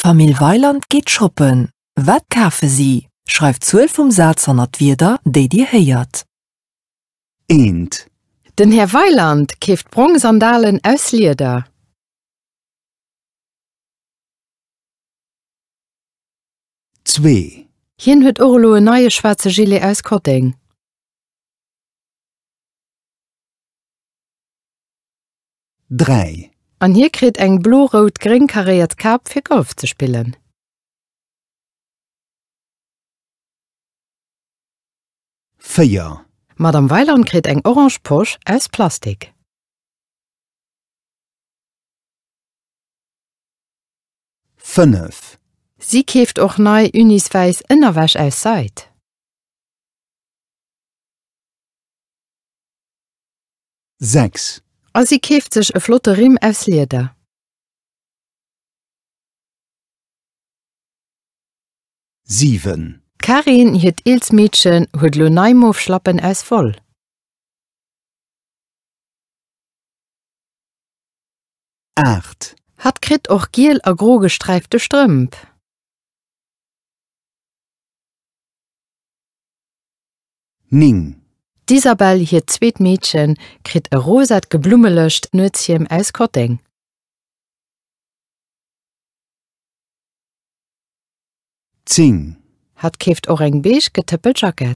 D'Famill Weiland geet shoppen. Wat kafe si? Schreift d'Zuel vum Saz hanner d'Wierder, déi Dir héiert. Eent. Den Här Weiland keeft brong Sandalen aus Lieder. Zwee. Hien huet och elo en neie schwaarze Gilet aus Kotteng. 3. An hie kritt eng blo-rout-gréng karéiert Kap fir Golf ze spillen. Véier. D'Madame Weiland kritt eng orange Posch aus Plastik. Fënnef. Si keeft och nei uniswäiss Ënnerwäsch aus Seid. 6. A si keeft sech e flotte Rimm aus Lieder. Siwen. D'Karin, hiert eelst Meedchen, huet lo nei mof Schlappen aus Woll. Aacht. Hatt kritt och giel a gro gesträifte Strëmp. 9. D'Isabelle, hiert zweet Meedchen, kritt e rosat geblummelecht Nuetshiem aus Kotteng. Zéng. Hatt keeft och eng beige getëppelt Jackett.